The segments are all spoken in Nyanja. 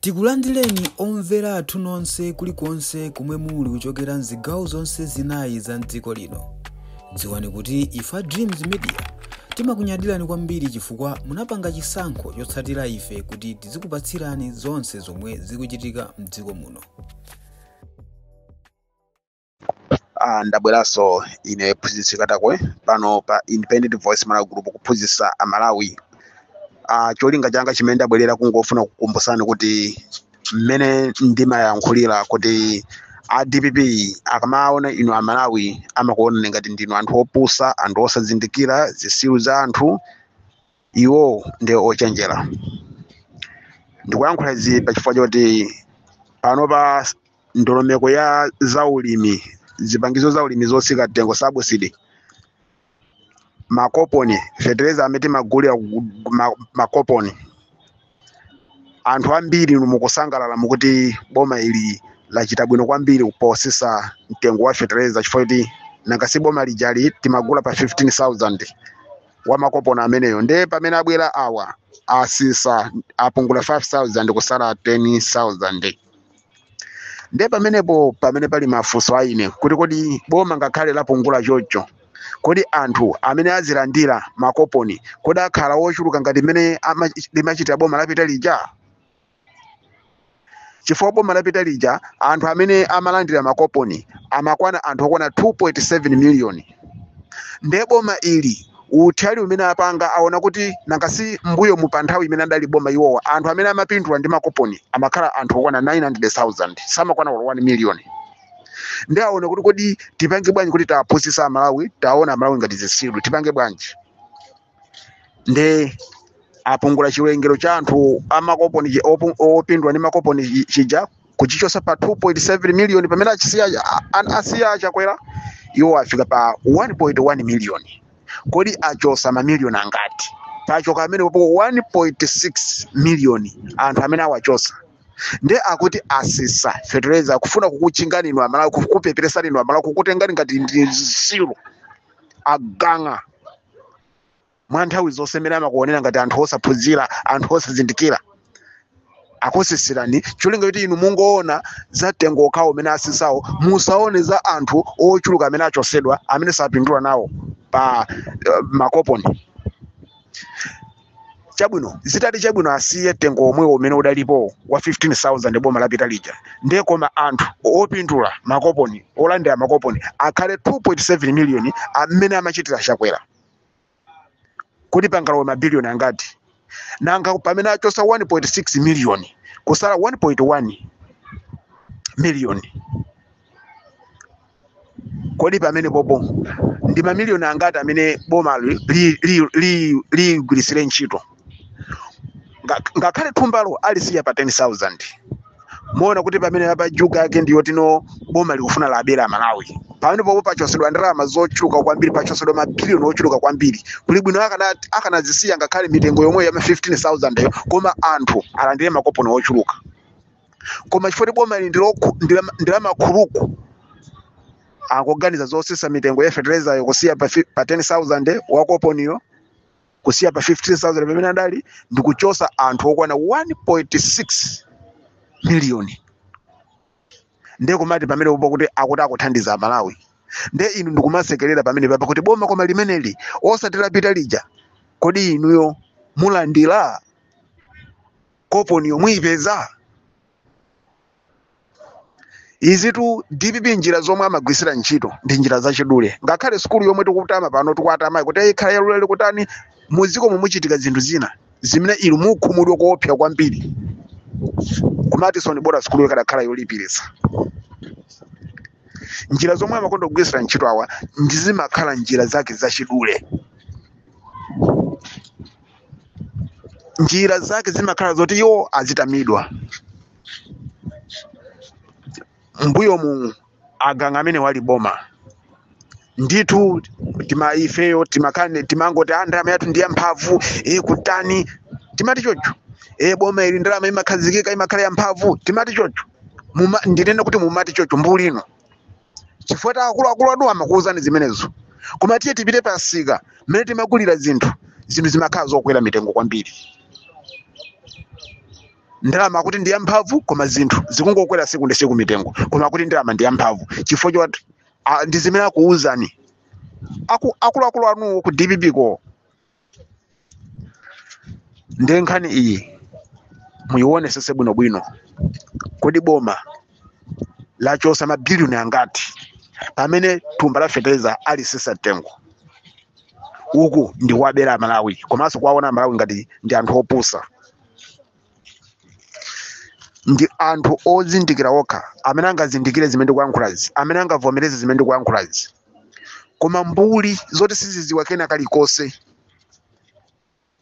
Tikulandireni omvera athu nonse kulikonse komwe muli kuchokera mzigawo zonse zinayi za mdziko lino. Dziwani kuti ife a Dreams Media timakunyadirani kwambiri chifukwa munapanga chisankho chotsatira ife kuti tizikupatsirani zonse zomwe zikuchitika mdziko muno. Ah, ndabweranso ine phunzitsi katakwe pano pa Independent voice malawi group kuphunzitsa amalawi ah, cholinga changa chimene ndabwerera kungofuna kukumbutsani kuti mmene ndimayankhulira kuti a dpp akamaona inu amalawi amakuonani ngati ndinu anthu opusa anthu osazindikira zitsiru za anthu iwowo ndi ochenjera ndikuyankhula izi pa chifukwa choti panopa ndondomeko ya zaulimi zipangizo zaulimi zotsika mtengo sabusidi makoponi fetereza amene timagulira ku- ku- ma- makoponi anthu ambiri mukusangalala mukuti boma ili lachita bwino kwambiri potsitsa mtengo wa fetereza chifukwa kuti nanga si boma lijali timagula pa 15000 wa makoponi ameneyo nde pamene abwera awa atsitsa apungula 5000 kusala 10000 nde pamenepo pamene pali mafunso a ine kuti kodi boma ngakhale lapungula choncho kodi anthu amene azilandira makoponi kodi akhala ochuluka ngati mmene ama- limachitira boma lapita lija chifukwa boma lapita lija anthu amene amalandira makoponi amakwana anthu okwana 2.7 miliyoni nde boma ili utali umene apanga aona kuti nanga si mbuyo mu pa nthawi imene adali boma iwowa anthu amene amapindula ndi makoponi amakhala anthu okwana 900000 samakwana olo 1 million nde aona kuti kodi tipange bwanji kuti tiapusitsa amalawi tiaona amalawi ngati zitsiru tipange bwanji nde apungula chiwerengero cha anthu amakoponi chi- opu- opindula ndi makoponi chi- chija kuchichotsa pa 2.7 miliyoni pamene achisiya a- a- asiya achakwera iwo afika pa 1.1 miliyoni kodi achotsa mamiliyoni angati pachoka pamenepo 1.6 miliyoni anthu amene awachotsa nde akuti atsitsa fetereza kufuna kukuchingani inu amalawi kukupeperetsa inu amalawi kukutengani ngati ndi zitsiru agang'a mwa nthawi zonse mmene amakuonera ngati anthu osaphunzira anthu osazindikira akutsitsirani cholinga choti inu mungoona za mtengo okhawo umene atsitsawo musaone za anthu ochuluka amene achotsedwa amene sapindula nawo pa uh, makoponi chabwino zitati chabwino asiye mtengo womwewo umene udalipo wa 15000 boma lapita lija ndiye koma anthu opindula makoponi olandira makoponi akhale 2.7 miliyoni amene amachitira Chakwera kodi pangalowe mabiliyoni angati nanga pamene achosa 1.6 miliyoni kusala 1.1 miliyoni kodi pamenepopo ndi mamiliyoni angati amene boma ligwirisire li, li, li, ligwirisire ntchito Nga- ngakhale thumbalo alisiya pa 10000 muona kuti pamene apa juga yake ndi yoti no boma likufuna labere amalawi pamenepopo pachosedwa ndalama zochuluka kwambiri pachosedwa mabiliyoni ochuluka kwambiri kuli bwino akana- akanazisiya ngakhale mitengo yomweyo ya ma 15000 yo koma anthu alandire makoponi ochuluka koma chifukwa kuti boma ili ndi lokhu- ndi la- ndi la makhuluku akuganiza zosisa mitengo ya fertilizayo kusiya pa, fi- pa 10000 wakoponiyo kusiya pa 15000 pamene adali ndi kuchosa anthu okwana 1.6 miliyoni ndiye kumati pamenepo kuti akuti akuthandiza amalawi ndiye inu ndikumasekerera pamenepapa kuti boma koma limeneli osati lapita lija kodi inuyo mulandira koponiyo muyipeza izitu dpp njira zomwe amagwirisira ntchito ndi njira zachidule ngakhale sukulu yomwe tikutama pano tikuitamayi kuti ikhala yaulere kutani muziko mu muchitika zinthu zina zimene inu mukhumudwe koopsa kwambiri kumati so no bora sukulu ikadakhala yolipiritsa njira zomwe amakonda kugwirisira ntchito awa ndi zimakhala njira zake zachidule njira zake zimakhala zoti iwo azitamidwa mbuyomu agangawa mmene anali boma ndithu tima ifeyo timakane timangoti a ndalama yathu ndi yamphamvu e kutani timati chocho e boma ili ndalama imakhazikika imakhala yamphamvu timati chocho Muma, ndinene kuti mumati chocho mbuli inu chifukwa choti akuluakulu anuwo amakuwuzani zimenezo koma tiye tipite pa msika mmene timagulira zinthu zinthu zimakhala zokwera mitengo kwambiri ndalama akuti ndi yamphamvu koma zinthu zikungokwera siku ndi siku mitengo koma akuti ndalama ndi yamphamvu chifukwa choti ah, ndi zimene akuwuzani Aku- akuluakulu anuwo ku dpp ko ndiye nkhani iyi muyiwonesese bwinobwino kodi boma lachosa mabiliyoni angati pamene thumba la fetereza alisisa mtengo uku ndi kuwabera amalawi komanso kuwaona amalawi ngati ndi anthu opusa ndi anthu ozindikira okha amene angazindikire zimene ndikuyankhulazi amene angavomereze zimene ndikuyankhulazi koma mbuli zoti siziziwa kena kalikonse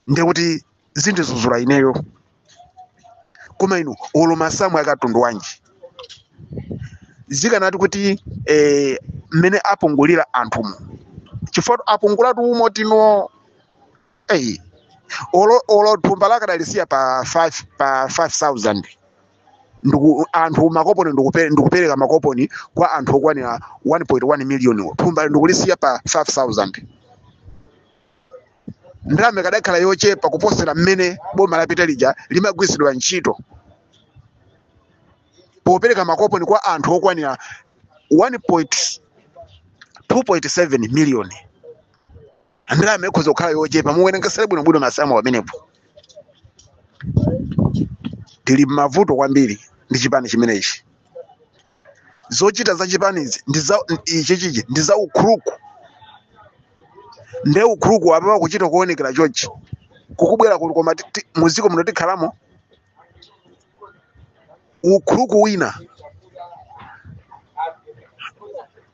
ndiye kuti zindizuzula ineyo koma inu olo masamu a katundu wanji zikanati kuti eh, mmene apungulira anthumu chifukwa apungulatu umo tino Ei, olo olo thumba akadalisiya pa 5 pa 5000 ndiku anthu makoponi ndikupe- ndikupereka makoponi kwa anthu okwanira 1.1 million thumba ndikulisiya pa 5000 ndalama ikadakhala yochepa kuposera mmene boma lapita lija limagwiritsidwa ntchito popereka makoponi kwa anthu okwanira 2.7 million ndalama ikhoza kukhala yochepa muwerengesere bwinobwino masamu pamenepo tili m'mavuto kwambiri ndi chipani chimenechi zochita za chipanizi ndi za ichichichi ndi za ukhuluku nde ukhuluku apapa kuchita kuonekera chonchi kukubwera kuti koma ti- ti- muziko muno tikhalamo ukhuluku wina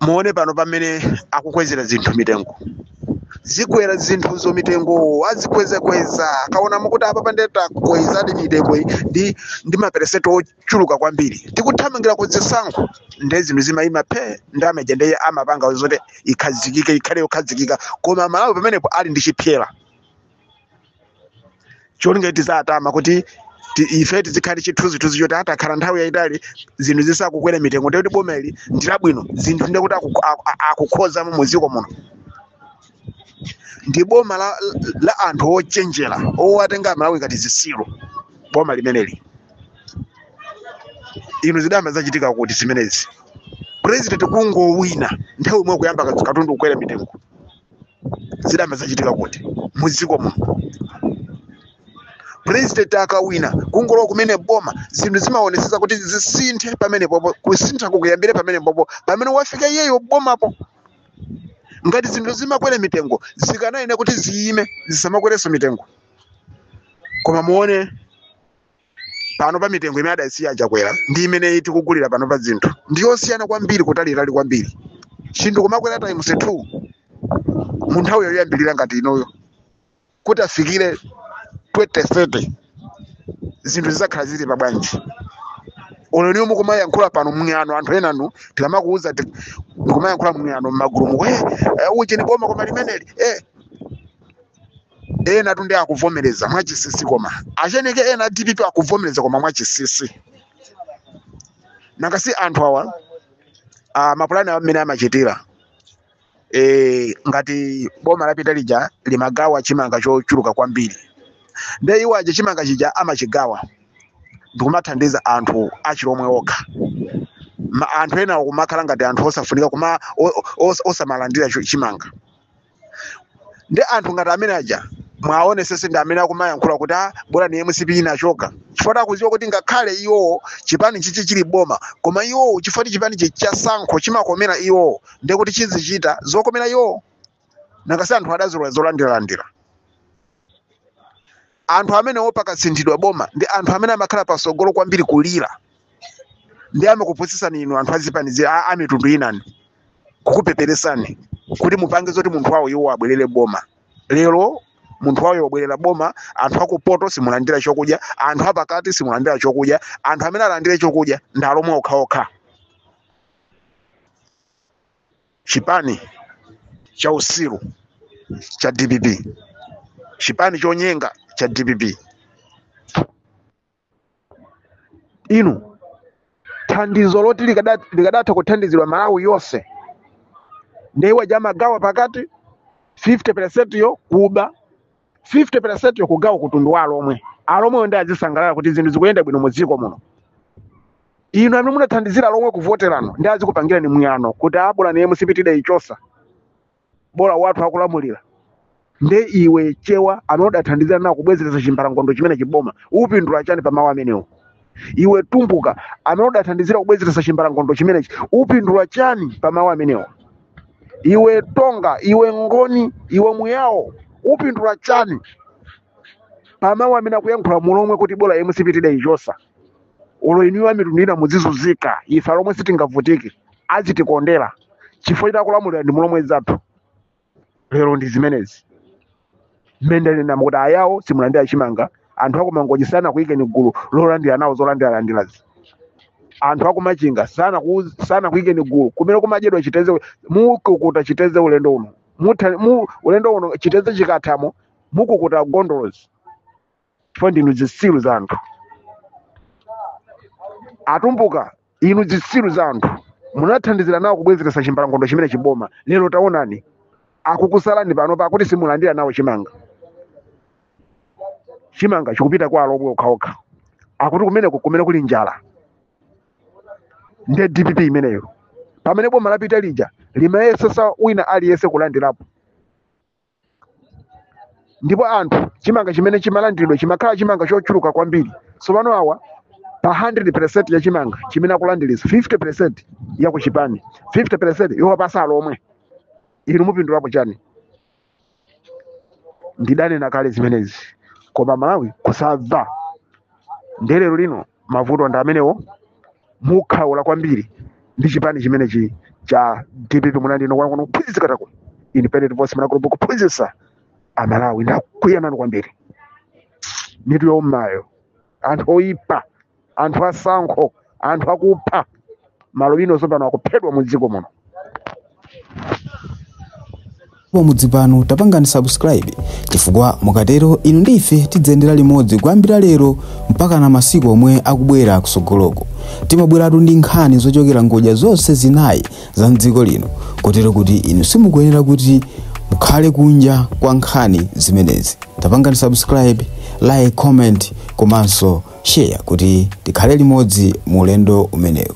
muone pano pamene akukwezera zinthu mitengo zikwera zinthuzo mitengo azikwezakweza akaona mukuti apa pande takwezadi mitengoyi ndi ndi maperesenti ochuluka kwambiri tikuthamangira ku zisankho nde zinthu zimayima phe ndi ameja nde iye amapanga zoti ikhazikike ikhale yokhazikika koma malawi pamenepo ali ndi chipyera cholinga kuti tizatama kuti ti- ife tizikhala ndi chithunzithunzi choti ah takhala nthawi yayitali zinthu zisakukwera mitengo ndikuti boma ili ndilabwino zinthu ndikuti aku- aku- akukhozamo mu dziko muno ndi boma la, la anthu ochenjera owatenga amalawi ngati zisiru boma limeneli inu zidayamba zachitika kuti zimenezi president kungowina nthawi imwe kuyamba katundu kukwera mitengo zidayamba zachitika kuti mudziko muno president akawina kungolowa kumene boma zinthu zimaonetsetsa kuti zisinthe pamenepopo kusintha kukuyambire pamenepopo pamene wafika iyeyo bomapo ngati zinthu zimakwera mitengo zikanayenera kuti ziyime zisamakwerenso mitengo koma muone pano pa mitengo imene adasiya a Chakwera ndi imene tikugulira pano pa zinthu ndi yosiyana kwambiri kutalitali kwambiri chinthu kumakwera times 2 mu nthawi yoyambirira ngati inoyo kuti afikire 2030 zinthu zizakhala zili pa bwanji olo inuyo mukumayankhula pano mng'ano anthu enanu tikamakuuza ti- mukumayankhula mng'ano mmagulumu we eh, uchi ni boma koma limeneli eh, enatu nde akuvomereza mwachisisi koma atcheneke ena a dpp akuvomereza koma mwachisisi nangasi anthu awa ah, mapulani awo amene amachitira eh, ngati boma lapita lija limagawa chimanga chochuluka kwambiri nde iwo aja chimanga chija amachigawa ndikumathandiza anthu achilomwe okha Ma, anthu enawo kumakhala ngati anthu osafunika kuma o- o- os- osamalandira cho- chimanga ndi anthu ngati amene aja mwaonetsetsa ndi amene akumayankhula kuti a bola ndi mcp inachoka chifukwa akuziwa kuti ngakhale iwowo chipani chichi chili boma koma iwowo chifukwa chipani chichi cha sankho chimakomera iwowo ndi kuti chizichita zokomera iwowo nangasi anthu adazolowera zolandiralandira anthu amenewo pakasinthidwa boma ndi anthu amene amakhala pasogolo kwambiri kulira ndi amakupusisani inu anthu azipani zi- a- amitundu inani kukupeperesani kuti mupange zoti munthu wawo iwo abwerere m'boma lero munthu wawo wabwerera m'boma anthu akupoto simulandira chokudya anthu apakati simulandira chokudya anthu amene alandire chakudya ndi alomwe okhaokha chipani cha usiru cha dpp chipani chonyenga cha dpp inu thandizo loti likada- likadatha kuthandizidwa malawi yonse nde iwo aja amagawa pakati 50 percent yokuba 50 percent yokugawa kutundu wa alomwe alomwewo nde azisangalala kuti zinthu zikuyenda bwino mu dziko muno inu amene munathandizira alomwe kuvoterano nde azikupangirani mwano kuti a bola ndi mcp tidaichosa bola wathu akulamulira nde iwe chewa amene udathandizira nawo kubwezeretsa chimbalangondo chimenechi m'boma upindula chani pa mawu amenewo iwe tumbuka amene udathandizira kubwezeretsa chimbalangondo chimenechi upindula chani pa mawu amenewo iwe tonga iwe ngoni iwe muyawo upindula chani pa mawu amene akuyankhula mulomwe kuti bola mcp tidaichosa olo inuyo amitundu ina muzizuzika ife alomwe sitingavutike azitikondera chifukwa choti akulamulira ndi mulomwe zathu lero ndi zimenezi mmene ndanena kuti ayawo simulandira chimanga anthu aku mangochi sanakuikeni gulu lolandira nawo zolandiralandirazi anthu aku machinga sanaku, sanakuikeni gulu kumene kumadyedwa chiteze mukukhuta chiteze ulendo uno Mutha- mu, ulendo uno chiteze chikathamo mukukhuta gondolosi chifukwa ndinu zitsiru za anthu atumbuka inu zitsiru za anthu munathandizira nawo kubwezeretsa chimbalangondo chimenechi m'boma lero taonani akukusalani pano pakuti simulandira nawo chimanga chimanga chikupita kwa alomwe okhaokha akuti kumeneko kumene kuli njala nde dpp imeneyo pamene boma lapita lija limayesesa wina aliyense kulandirapo ndipo anthu chimanga chimene chimalandiridwa chimakhala chimanga chochuluka kwambiri tsopano awa pa 100% ya chimanga chimene akulandiriza 50% ya kuchipani 50% yowapasa alomwe inu mupindulapo chani ndidanena kale zimenezi koma malawi kusamva nde lero lino mavuto ndi amenewo mukhaula kwambiri ndi chipani chimenechi cha dpp munandino kuona kuno kuphunzitsa katako independent voice munagulupu kuphunzitsa amalawi ndakuyanani kwambiri mitu youmayo anthu oyipa anthu asankho anthu akupha malubino tsopano akuphedwa mu dziko muno pamudzi pano tapangani subscribe chifukwa mukatero inu ndi ife tidzayendera limodzi kuyambira lero mpaka na masiku omwe akubwera kutsogoloko timabweratu ndi nkhani zochokera ngodya zonse zinayi za mdziko lino kotero kuti inu simukuyenera kuti mukhale kunja kwa nkhani zimenezi tapangani subscribe like comment komanso Share kuti tikhale limodzi mu ulendo umenewu.